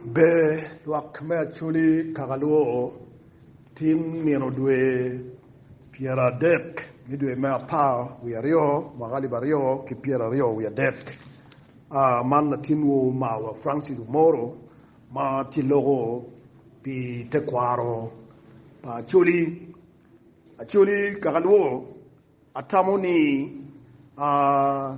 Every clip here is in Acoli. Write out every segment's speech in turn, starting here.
Ber lwak me Acholi kaka lwoo, Tin nino dwe pyera adek me dwe me apar wiye aryo mwaka alip aryo ki pyera aryo wiye adek, man latin wo omarwa Francis Omoro ma tye loko pi te kwaro pa Acholi. Acholi kaka lwoo, Atamo ni aa.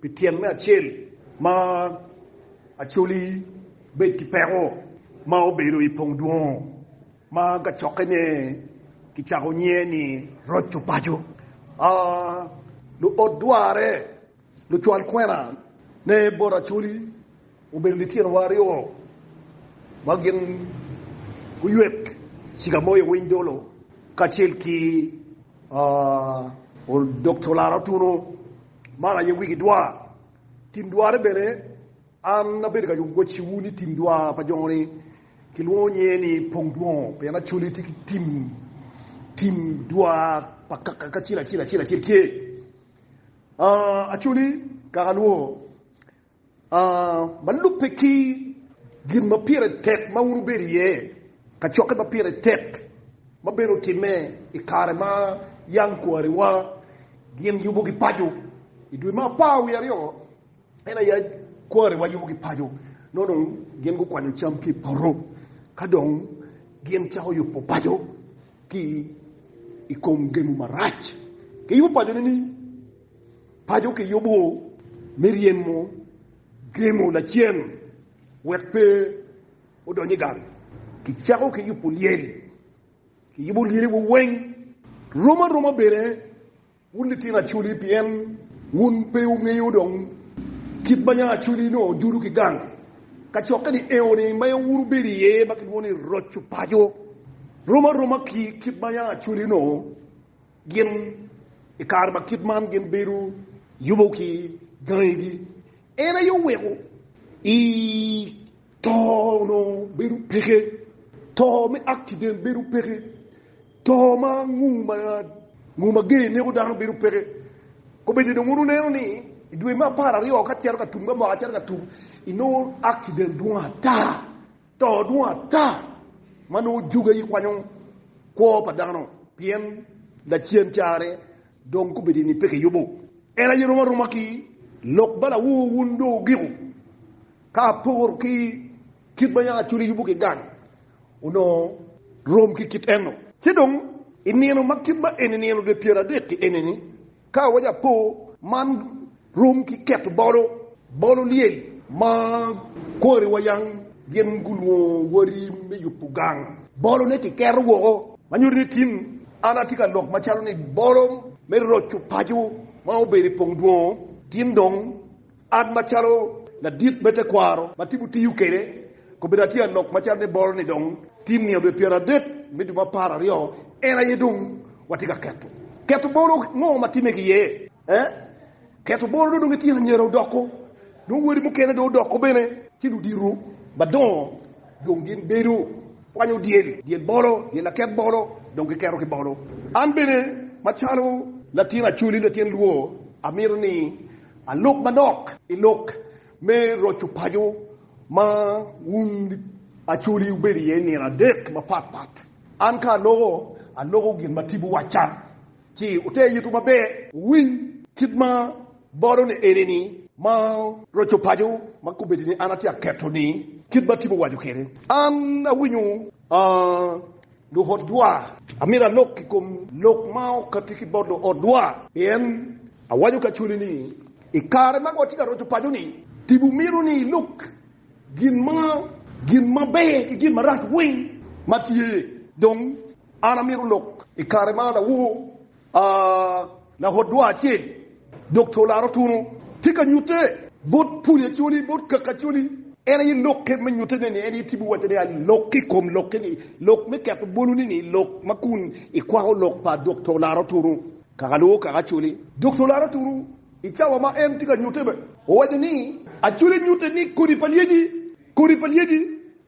Pi tyen me acel ma Acholi bed ki peko ma obedo i pong dwongo ma kacokkene kicako nyiye ni Roco Paco, luot dwarre, lucwal kwena ne bot Acholi obedo litino wa aryo ma gin guywek Cigamoyo Winy Dolo kacel ki Dokto Laro Tuno Man aye wigi dwar. Tim dwarre bene, an abedo ka wacciwu ni tim dwar pa jo-ni kilwongo nyinge ni pong dwongo, pien Acholi tye ki tim, tim dwar pa kaka kacel acel acel acel tye. Acholi kaka lwongo. Ma lubbe ki gin ma pire tek ma wun wubedo iye, kacokke ma pire tek ma bene otimme i kare ma yam kwariwa gin yubogi paco. I dwe me apar wiye aryo, en aye kwariwa yubogi paco, nongo dong gin gukwanyo cam ki i poto ka dong gin cako yubo paco ki i kom gemo marac. Giyubo paco nini? Paco kiyubo me ryemo gemo lacen wek pe odony i gang. Kicako ki yubo lyel. Kiyubo lyeliwa weng. Rom aroma bene wun litino Acholi pien wun pe wungeyo dong kit ma yam Acholi onongo ojudo ki gang. Kacokke ni eoni ma wun wubedo iye ma kilwongo ni Roco Paco rom aroma ki kit ma yam Acholi onongo. Gin i kare ma kit man gin bedo yubo ki gangigi. En aye oweko i to onongo bedo peke, to me accident bedo peke, to ma ngu ma ger neko dano bedo peke. Kobedi dong wun wuneno ni i dwe me apar aryo ka cito ka tum ka mwaka cito ka tum inongo accident dwong ata. To dwong ata ma nongo juga i kwanyo kwo pa dano, pien lacen carre dong gubedo ni pe kiyubo. En aye rom aroma ki lok bala wu wun jo ogiko, ka aporo ki kit ma yam acoli yubo ki gang, onongo rom ki kit eno. Ci dong i nino ma kit ma eni nino dwe pyeradek ki enini, Ka wa japo man rom ki keto bolo, bolo lyel ma kwari wa yang gin gulwongo wari me yubo gang. Bolo ne ki keto woko ma nyuto ni tin an atye ka lok macalo ni bolo me roco paco ma obedo i pong dwongo tin dong. An macalo ladit me tekwaro ma tipo tiyo kwede, kobedo atye ka lok macalo ni bolo ni dong tye nino dwe pyeradek me dwe mapararyo en aye dong watye ka keto. Keto bolo ngo ma time ki iye? Eh, keto bolo dong itino anyira odoko, nongo wadi mukene dong odoko bene, ci ludito madongo dong gin bedo kwanyo dyel, dyel bolo, dyel laket bolo dong giketo ki bolo. An bene macalo latin Acholi, latin Lwor, amito ni Alok manok i lok me roco paco ma wun acoli wubedo iye nino adek mapat pat. An ka aloko, aloko gin ma tipo wacca, ci wuter itwu maber wuwiny kit ma bolo ni enini ma roco paco ma kobedi ni an atye aketo ni kit ma tipo owaco kwede. An awinyo, aa. Luotwa, amito alok i kom lok ma okatti ki bot luotwa, pien awaco kacwali ni, i kare ma watye ka roco paco-ni, tipo mito ni ilok gin maber ki gin marac weng ma tye. Dong, an amito lok i kare ma adawor A Lahodwa acel, dok to laro tunu, tye ka nyutte bot puli acoli, bot kaki acoli. En aye lokke me nyutte ne ni en aye tipo wacce ni alok i kom lokke ni lok me keto bolu ni ni lok ma kun i kwako lok pa dok to laro tunu kaka lwongo kaki acoli. Dok to laro tunu i cawa ma en tye ka nyutte be owaco ni acoli nyutte ni kodi pa lyeci, kodi pa lyeci.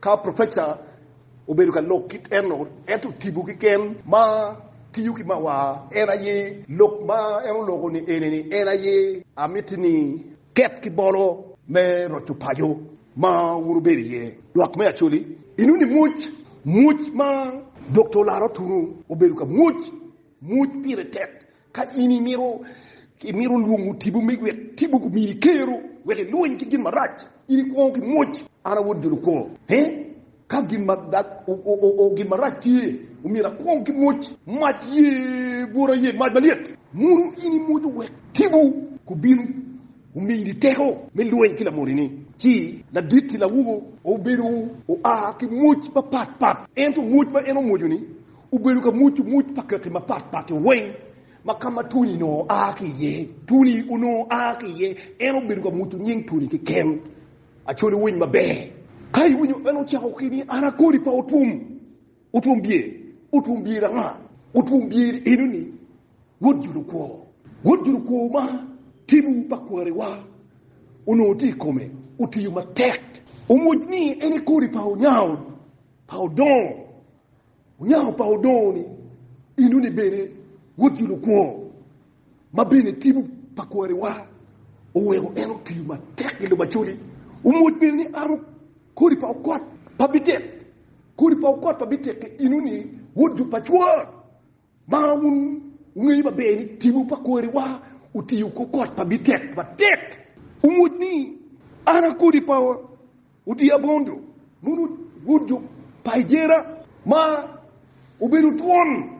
Ka profeca obedo ka lok kit eno, ento tipo keken ma tiyo ki mawar en aye lok ma en oloko ni eni ni, En aye amiti ni ket ki bolo me roco paco ma wun wubedo iye. Lwak me Acholi, Inuni imwoc mwoc ma Dokta Olaro Tunu obedo ka mwoc mwoc pire tek. Ka in imito imito lwongo tipo mig wek tipo gumini kero wek ilwony ki gin marac, in ikwongo ki mwoc, An a Wod jo lukwo. He? Ka gin ma o, gin marac tye, omyero akwong ki mwoc. Mac ye bwota ye mac malyet. Mono in imwoco wek tipo gubin omini teko me lwony ki lamoni-ni? Ci ladit-ti lawogo obedo oa ki mwoc mapat pat, ento mwoc ma en omwoco-ni Obedo ka muc omuc pa kaki mapat pat weng ma ka ma Tony onongo a ki iye. Tony onongo a ki iye, en obedo ka muco nying Tony keken. Acholi winy maber. Ka iwinyo en ocako ki ni an a kodi pa Otwom, Otwom Byer, Otwom Byer anga? Otwom Byer eno ni, Wod Judo kwo. Wod Judo kwo ma tibu pa kwariwa onongo tye i kome, otiyo matek. Omuc ni en e kodi pa Onyango, pa Odongo. Onyako pa odongo ni, Inu ni bene wod jo lukwongo, ma bene tipo pa kwariwa oweko en otiyo matek i lobo acoli. Omwoc bene ni amo kodi pa okot pa bitek, kodi pa okot pa bitek-ki inu ni wod jo pa cwor. Ma wun wungeyo maber ni tipo pa kwariwa otiyo ku kot ma bitek matek. Wumwod ni an a kodi pa odi abondo, nunu wod jo pa Ejera ma obedo twon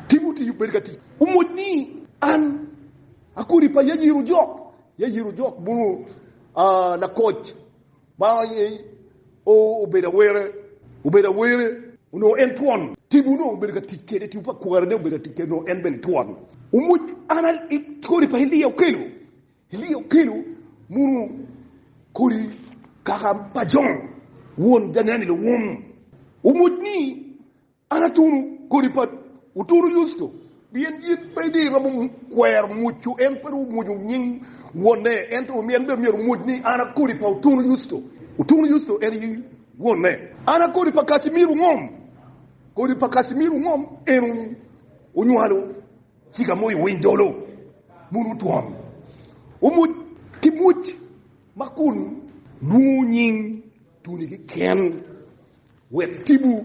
tipo otiyo bedo ka tic. Wumwod ni an a kodi pa Yayir Ojok, Yayir Ojok mono lakoc. Banga aye o obedo awere, obedo awere onongo en twon, tibu onongo obedo ka tic kede, tibu pa kware ne obedo ka tic kede onongo en bene twon. Omuc an i kodi pa Elia okelo, Elia okelo muno kodi kaka pa Jon won janeni luwum. Omuc ni An atunu kodi pa otunu Yusto, pien in pe idhi iromo kwero mwucu, en pe dong omwucu nying wonne, ento en bene myero omwuc ni an a kodi pa otunu Yusto. Otunu Yusto en aye wonne. An a kodi pa Kasimiro ngom? Kodi pa Kasimiro ngom en onywalo ciga mo i winy dolo bulu twon, omwuc ki mwuc ma kun lwongo nying tuli keken, wek tibu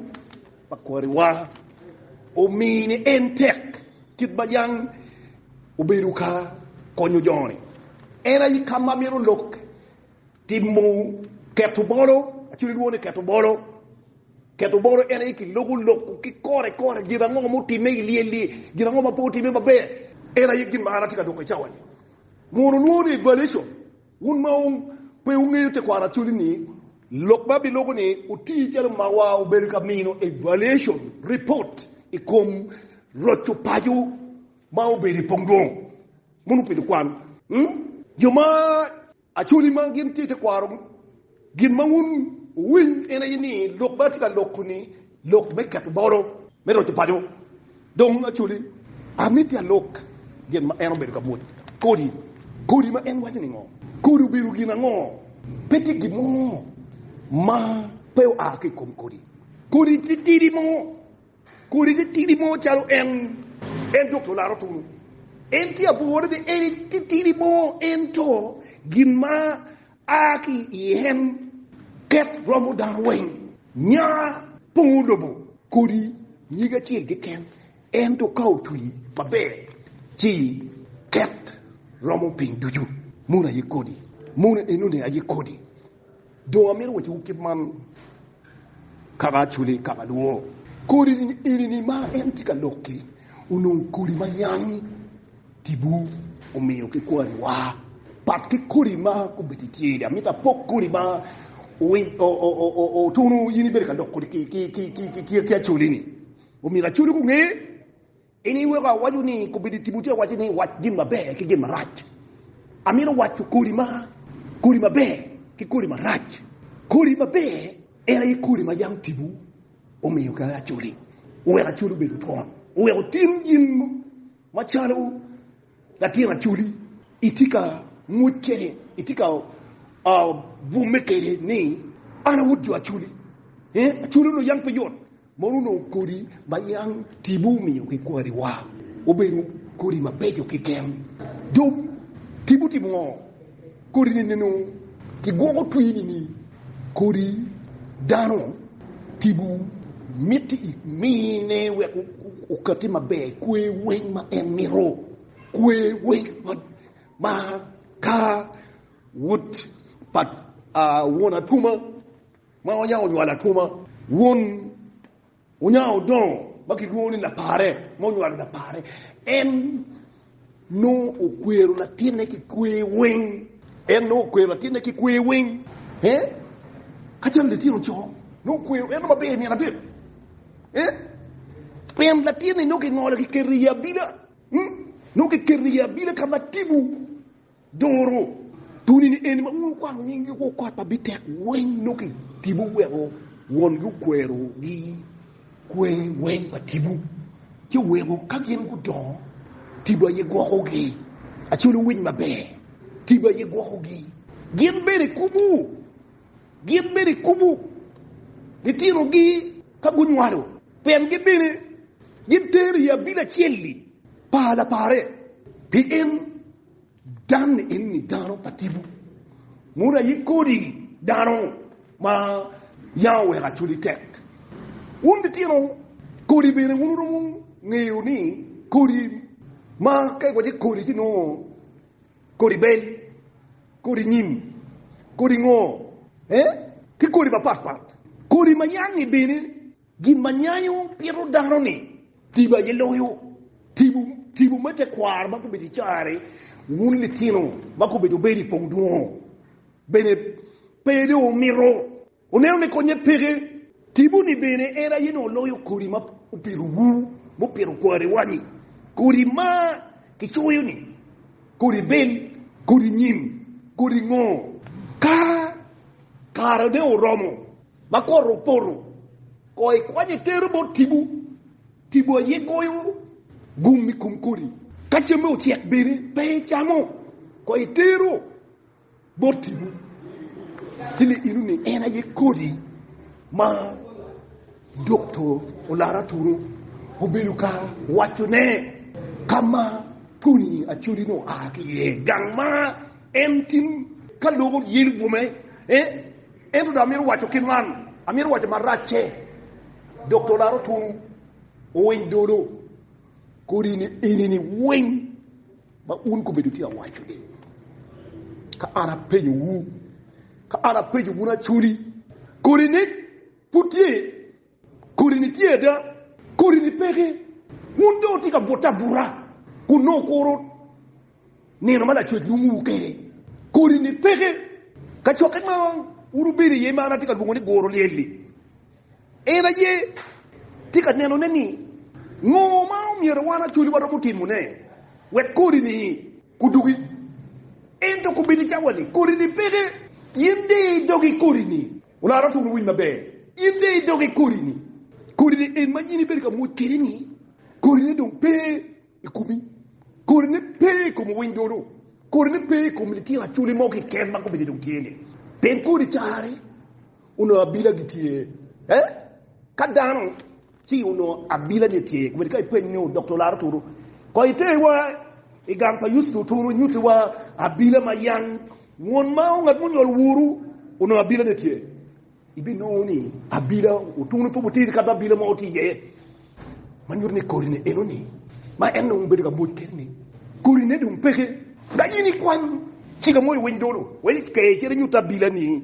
pa kwariwa omi ni en tek, kit ma Yang obedo ka konyo jo-ni. En aye ka ma mito lok timo keto bolo, actually lwongo ni keto bolo, keto bolo en aye ki loko lok ki kore kore gin ango mutime i lyel li, gin ango ma pe otime maber, en aye gin ma an atye ka doko i cawa-ni, mono lwongo ni evaluation. Wun ma pe wungeyo tekwaro actually ni lok ma biloko ni otii calo mawa obedo ka mino evaluation report i kom roco paco ma obedo i pongdwong mono obedo kwan. Hum. Jo ma actually ma gin tye tekwaro Gin ma wun wuwinyo en aye ni lok ma atye ka loko-ni lok me keto bolo me roco paco. Dong acwali, amito alok gin ma en obedo ka mwod kodi. Kodi ma en waco-ni ngo? Kodi obedo gin ango? Pe tye gin mo ma pe oa ki i kom kodi. Kodi tye tidi mo. Kodi tye tidi mo calo en, en dok to laro tunu. En tye abwor bene, en tye tidi mo, ento gin ma A ki i en, ket romo dano weng, nya pongo lobo kodi nyig acel keken, ento ka otwi maber, ci ket romo piny ducu. Mono aye kodi? Mono enoni aye kodi? Dong amito wacciwu kit man, kaka Acholi, kaka alwor. Kodi-ni eni-ni ma en tye ka lok-ki, onongo kodi ma yam. Tipo omiyo ki kwariwa pat ki kodi ma gubedo i tyeri. Amito apok kodi ma otunu in ibedo ka dok kodi ki acoli-ni. Omyero acoli gunge in iweko awaco ni kobedo i tipo tye awaco ni wac gin maber ki gin marac. Amito waco kodi ma kodi maber ki kodi marac. Kodi maber en aye kodi ma yam tipo omiyo ki acoli oweko acoli obedo twon oweko otim gin Macalo latin Acholi, itye ka ngwec kwede, itye ka bwome kwede ni, An a wod jo Acholi. Acholi onongo yam pe yot, mono onongo kodi ma yam tipo omiyo ki kwariwa obedo kodi mabeco keken. Dong tipo otimo ngo? Kodi-ni nino kigwoko twi nini kodi dano tibu miti i mine wek okati maber i kwe weng ma en mito, kwe weng ma ka wod pa won atwoma ma oyabo nywalo atwoma won Wunyao odongo ma kilwongo ni lapare ma onywalo lapare. En nongo okwero latinne ki kwer weng. En nongo okwero latinne ki kwer weng. Eh? Ka calo litino co, nongo okwero en maber nino adek. Eh? Pien latinni nongo kingolo kiketo i abila. Nongo kiketo i abila ka ma tipo. duru. Tuni ni eni ma wun wukwano nyinggi woko kot ma bitek weng nongo ki tibu weko wongi okwerogi kwer weng pa tibu, ci weko ka gin gudongo tibu aye gwokogi, acel owic maber tibu aye gwokogi gin bene kubu. Gin bene gikubo litinogi ka gunywalo, pien gin bene gitero i abili acel-li pa lapare, pien dan enni dano pa tipo, mono aye kodi dano ma yam oweko acwali tek. Wun litino kodi bene, wun wuromo ngeyo ni kodi ma ka iwaco kodi ci nongo kodi bel, kodi nyim, kodi ngor, ki kodi mapatpat, kodi ma yangngi bene. Gin ma nyayo pito dano-ni tibo aye loyo tibo me tekwaro ma gubedo i carri. Wun litino ma gubedo bedi pong dwongo, bene pe dong wumito Wuneno ni konye peke, timoni bene en aye nongo loyo kodi ma opitowu, mupito kwariwa-ni, kodi ma kicoyo-ni, kodi bel, kodi nyim, kodi ngo. Ka karene oromo ma kore opoto, kono ikwanye itere bot tipo, tipo aye goyo gum i kom kodi. Ka camme ocek bene, pe icamo, kono itero. botiwu ki liidu ni en aye kodi ma Dokto Olara Aturu obedo ka wacone ka ma Tony Acholi-ni oa ki iye, gang ma en tin ka loko yelo bwome iye. Ento dong amito waco kit man, amito waco maracce, Dokto Olara Oturu owiny dolo kodi ni enini weng. Ma un gubedo tye awaco ni, Ka an apenyo wu, ka an apenyo wun acoli, kodi ni pud tye? Kodi ni tye ada? Kodi ni peke? Wun dong wutye ka bute abuta kun nongo wukuro nino ma Lacwec lwongo wu kede. Kodi ni peke? Kacokke ma wun wubedo iye ma an atye ka lwongo ni guro lyel-li. En aye tye ka nenone ni ngo ma myero wan acoli waromo timone wek kodi-ni gudugi. Ento kobedi cawa ni kodi-ni peke, in diyo i dogi kodi-ni. Olaro otur owiny maber, in diyo i dogi kodi-ni. Kodi-ni en ma in ibedo ka mwod kwede-ni, kodi-ne dong pe i komi, kodi-ne pe i kom owiny dono, kodi-ne pe i kom litino acoli mo keken ma kobedi dong tye-ni. Pien kodi carre Onongo abila gitye e? Ka dano ci onongo abila ni tye, wed ka ipeny nyo dokta olaro turu. Ko iter wa i gang pa Yusto turu nyuti wa abila ma yang won ma ongat munyol wuru onongo abila ni tye. Ibi nongo ni abila otunu pe butiri ka be abila mo tye iye. Ma nyuti ni kodi ni eno ni ma en dong bedo ka mwoc kedi ni kodi ne dong peke. Ka in ikwany cika mo i winy dolo wek ikeyo cel inyut abila ni.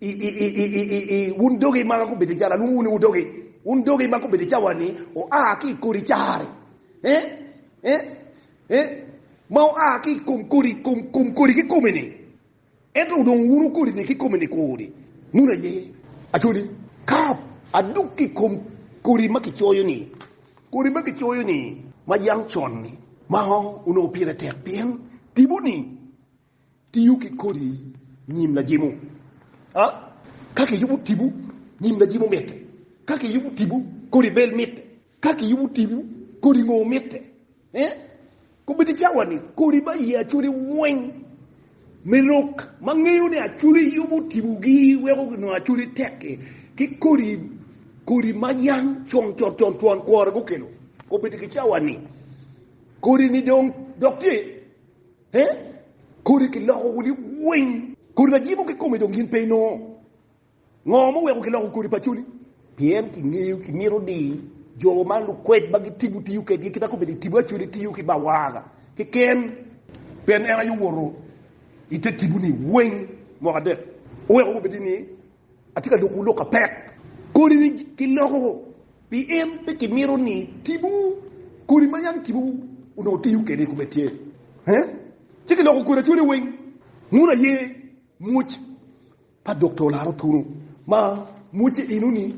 Iiiiiiii, wun dogi ma gubedo jalo, alwongo wun ni wudogi, wun dogi ma gubedo cawa-ni, oa ki i kodi cari, eh, eh, eh, ma oa ki i kom kodi, kom, kom kodi kikome-ni, ento wudong wunu kodi-ni kikome-ni kodi, mono aye acodi, ka adok ki i kom kodi ma kicoyo-ni, kodi ma kicoyo-ni, ma yam con-ni, ma onongo pire tek pien tipo-ni. Tiyo ki kodi nyim lajemo. A Ka kiyubo tipo, nyim lajemo mitte. Ka kiyubo tipo, kodi bel mitte. Ka kiyubo tipo, kodi ngo mitte. Eh? Kobedo cawa-ni, kodi ma iye acwali weng me lok ma ngeyo ni acwali yubo tipogi weko nongo acwali tek-ki, ki kodi kodi ma yang con con con twon kwore gukelo. Kobedo ki cawa-ni, kodi-ni dong dok tye. He? Kodi kiloko wuli weng? Kodi lajiko kikome dong gin pe inongo? Ngo ma oweko kiloko kodi pa coli? Pien kingeyo kimito ni jo ma lukwed ma gitibo tiyo kedgi kita kobedi itibo acoli tiyo ki bawaga keken, pien en aye owoto ite tiboni weng mwaka adek, oweko kobedi ni, Atye ka dwokowu lok apek. Kodi ni kiloko pien pe kimito ni tipo kodi ma yam tipo onongo tiyo kwede i kome tye, ci kiloko kodi acwale weng. Wun aye mwoc pa Doktor Laro Tunu ma mwocce eno-ni.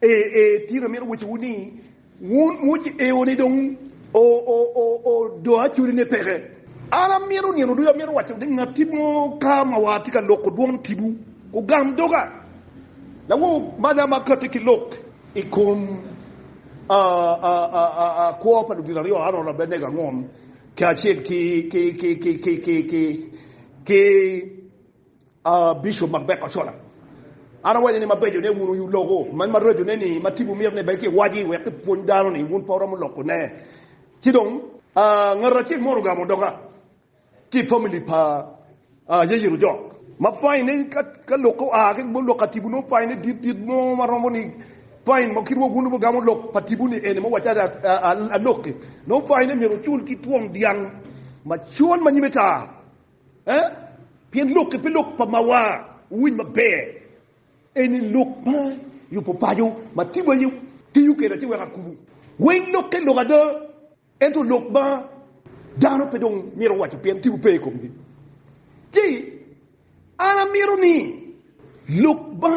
Ee, ee, tin amito wacciwu ni, wun wuceo ni dong odoa cwinyu ni peke. An amito nino ducu, amito waco ni ngatti mo ka ma war tye ka loko dwon tipo, ogam doga, lawo manya ma katti ki lok i kom kwo pa ludito aryo, Aron Abednego angom, kacel ki Aa Bishop Macbeth Ochola, An awaco ni mabeco ne wun oyu loko man maraco ne ni ma tipo myero ni bed ki waci wek ki pwony dano ni wun pe wuromo loko ne. Ci dong aa ngat acel mo orugamo doka ki family pa aa yeyiro jok ma fine ne ka ka lok oaa ki lok ka tipo nongo fine ne dit dit mo ma romo ni fine mo kit wa wun nongo wugamo lok pa tipo ni eni muwaci ada aa alok ki nongo fine ne myero wucul ki twom dyang macol ma nyime tar. Eh? Pien lok ki pi lok pa mawa wuwiny maber eni lok ma yubo paco ma timwu aye tiyo kede ci weko akubu. Weng lok ki lok ada, ento lok ma dano pe dong mito waco pien timwu pe i komgi. Ci an amito ni lok ma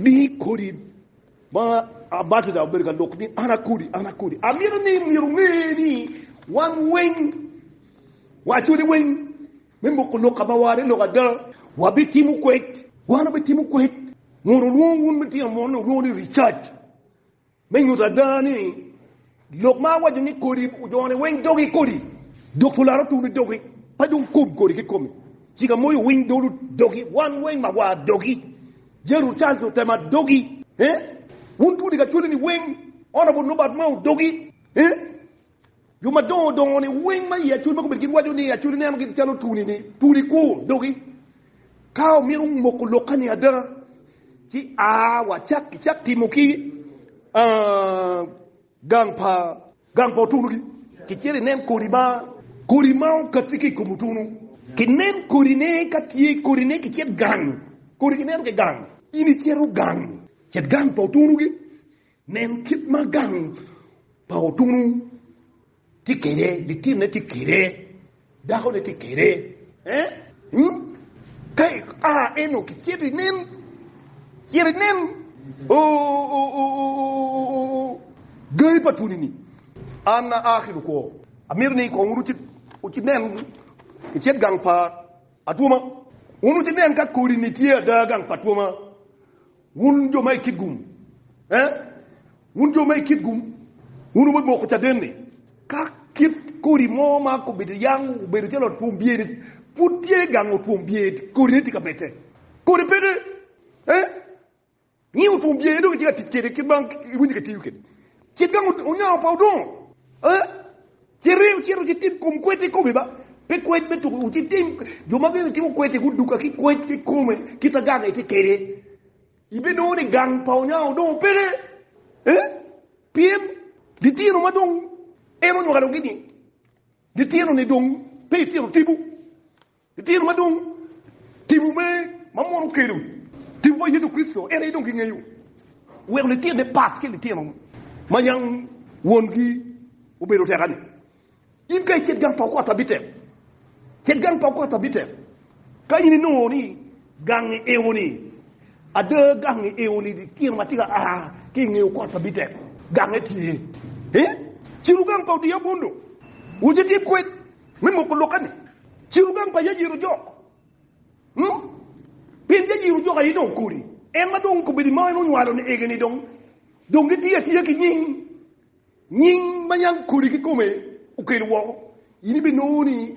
di kodi. Ma abatija obedo ka lok ni an akodi, an akodi. Amito ni myero onge ni wan weng waculi weng me moko lok ka ma ware lok ada. Wabitimo kwed, wan wabitimo kwed. Mono olwong wun me tino mon olwong ni research me nyuto ada ni. Lok ma awaco ni kodi ojone weng dogi kodi, dok pulara otuni dogi, pe dong kob kodi kikomi. Cika moyo winy dolu dogi, wan weng mawa dogi, Jeru Charles otema dogi, eh? Wun tudi ka cwali ni weng, Honourable Nobert Mao dogi, eh? Jo madongo dongo ni weng ma i acwali ma gubedo gin waco ni acwali neno gin calo tuni ni tuni kwo dogi. Ka wamito moko lokke-ni ada, ci a wacak icak timo ki gang pa otunugi kicito inen kodi ma kodi ma okatti ki i kom otunu. Kinen kodine, ka tye kodine kicit gang, kodi kineno ki gang, in icito gang, cit gang pa otunugi Nen kit ma gang pa otunu tye kwede, litine tye kwede, dakone tye kwede. Ka ia eno kicito inen, cit inen gangi pa twoni-ni. An aa ki lukwo, amito ni kong wun wunen kicit gang pa atwoma. Wun wunen ka kodi-ni tye ada gang pa atwoma. Wun jo ma i Kitgum, ee, wun jo ma i Kitgum, wun wubimoko caden-ni. Ka kit kodi mo ma kobedo yang obedo calo ot twom byer-ni, pud tye gang ot twom byer, kodine tye ka bette. Kodi peke, ee, ngi ot twom byer-ni dong itye ka tic kwede kit ma iwinyo ka itiyo kwede. Cik gang onyango pa odongo, ee. Ci ring cito ci tim kom kwed kikomi ba, pe kwed me tuko wi ci tim. Jo ma bene timo kwed-ti guduka ki kwed kikome kit ma gange tye kede. Ibinongo ni gang pa onyango dong peke, eh? Pien litino ma dong en onywalo-gi-ni, litino-ni dong pe litino tipo, Litino madwong, tipo me ma mono okelo, tipo pa Yecu Kricito en aye dong gingeyo. Wek litine pat ki litino ma yang wongi obedo tek ani, In ka icit gang pa okot pa bitek, cit gang pa okot pa bitek. Ka in inongo ni gangi eo-ni, ada gangi eo-ni litino ma tye ka a ki i nge okot pa bitek, gange tye. Ci lugang pa odiabundo, wucit ki kwed Me moko lokke-ni, ciro gang pa Yair ojok. Hmm? Pien Yair ojok aye dong okori. En ma dong obedo ma en onywalo-ni ege-ni dong dong gitiyo atiya ki nying. Nying ma yam kodi kikome okelo woko. In ibinongo ni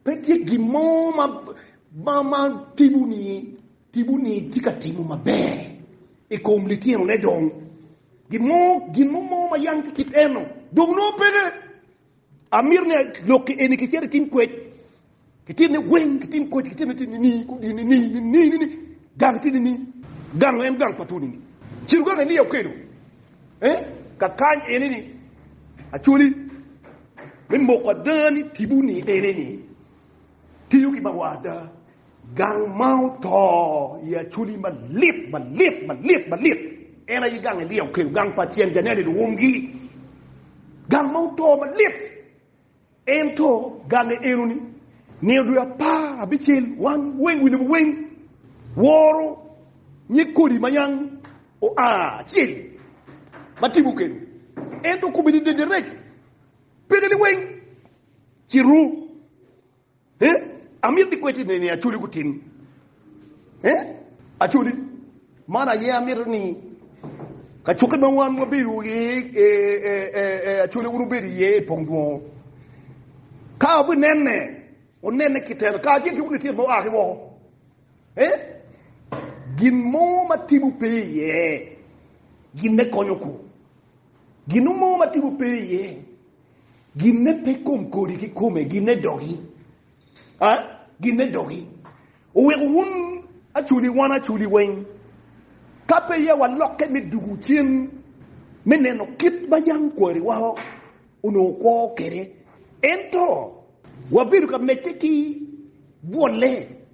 pe tye gin mo ma, ma, ma tipo-ni tipo-ni tye ka timo maber i kom litinone dong. Gin mo, gin mo mo ma yam ki kit eno dong nongo peke. Amito ni lok eni kicit i tim kwec, kicit ni weng ki tim kwec, kicit ni tim nini, kudi nini, nini, nini, gang ti nini, gang en gang pa tuni ni. Ciro gang Elia okelo, eh, ka kany eni ni, Acoli, me moko ada ni tibu ni eni ni, tiyo ki bawa ada, Gang ma oto i Aculi malit, malit, malit, malit. En aye gang Elia okelo, gang pa cen Janel i luumgi. Gang ma oto malit. Ento gange enoni, nino dwe apar abicel wan weng wi lobo weng woro nyig kodi ma yang oa acel ma tipo okelo. Ento kome ni dedereji, pekene weng ci ru. Eh, amito ni kweddi ni acoli gutim. Eh, acoli. Man aye amito ni kacukke ma wan wabedo i e, e, e, e, acoli wun wubedo iye i pong dwongo. Ka obi nenne, onenne kiteno, ka acel ki wun itit ma oa ki woko. Eh, gin mo ma tipo pe iye, gin me konyo ku. Gin mo ma tipo pe iye. Ginne pe kom kodi ki kome, ginne dogi. A, ginne dogi. Oweko wun aculi wan aculi weng, ka pe ya walokke me dugu cen me neno kit ma yam kwariwa onongo kwo kwede. Ento wabedo ka medde ki bwolle.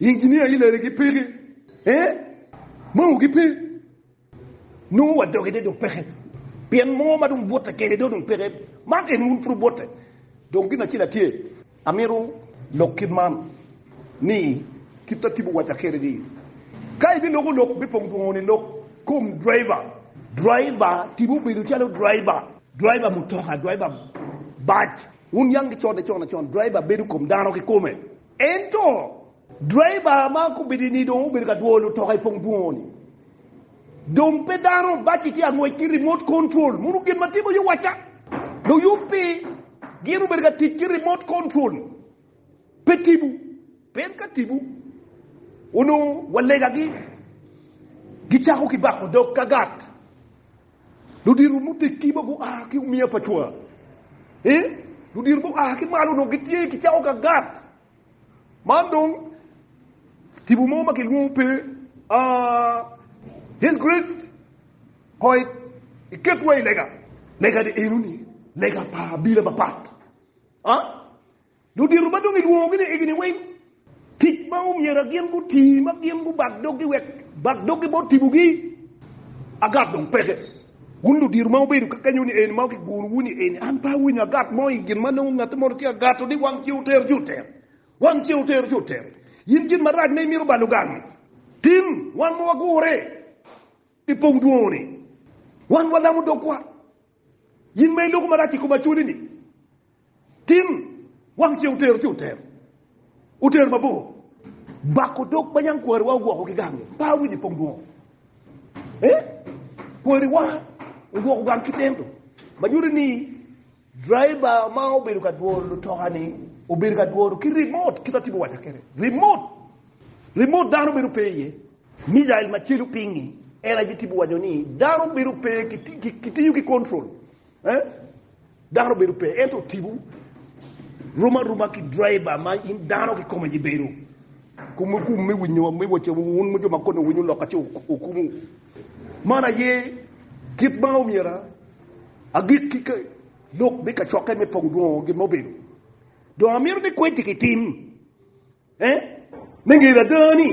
Inginia ilele gi peke eh mao gi pe nongo wa doge de dong peke pien mo ma dong bwote kede do dong peke man en wun puru bwote dong gin acel atye amito lok kit man ni kit ma tipo waca kede ni ka ibi loko lok me pong dwongo ni lok kom driver driver tipo bedo calo driver driver mutoka driver bac wun yang ki code con acon driver bedo kom dano ki kome. Ento, driver ma gubedo ni dong obedo ka dwoyo lutoka i pong dwongo-ni dong pe dano, baci tye ka ngwec ki remote control. Mono gin ma timo yo wacca, luyub-bi gin obedo ka tic ki remote control, pe tibu. Pien ka tibu, onongo walegagi gicako ki bako dog ka gat. Ludito mutekiba gua ki omiya pa cwa. E, ludito gua ki malo onongo gitye ki cawo ka gat. Man dong tipo mo ma kilwongo pe a His Grace koi iketwa i lega. Lega-ni eno ni lega pa abila mapat. A? Ludito ma dong ilwongogi ni egini weng, tic ma omyera gin guti ma gin gubak doggi wek bak doggi bot tibogi agat dong peke. Wun ludito ma wubedo ka kenyo ni eni ma kiguno wu ni eni an pe awinyo agat mo i gin ma nongo ngati moni tye agato ni wang ce otero ci otero, wang ce otero ci otero. Yin gin marac ma imito balo gangi. Tin wan ma wagure i pong dwongo ni wan walamo dogwa In ma iloko marac i kom acholi-ni, tin, wang ce otero ci otero, otero mabor. Bako dog ma yam kwariwa ogwoko ki gang-nge, pe awinyo i pong dwongo. Eh? Kwariwa ogwoko gang ki tendo, ma nyuto ni driver ma obedo ka dworo lutoka-ni obedo ka dworo ki remote, kit ma atye biwaca kwede, remote, remote dano bedo pe iye. Mijail macelu pingi, en aye tipo waco ni dano bedo pe ki tiyo ki control eh dano bedo pe ento tipo rum aruma ki driver ma in dano ki kome aye bedo kume kum me winyo me waco wun jo ma kone winyo lok ace okumu man aye kit ma omyera agik ki ke lok me kacokke me pongo dwongo gin ma obedo dong amito ni kweci ki tim Me ngeri ada ni,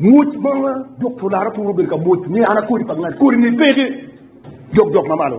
mwoc ma Dokta Olara turo obedo ka mwoc ni an akodi pa ngat, kodine peke jok jok ma malo.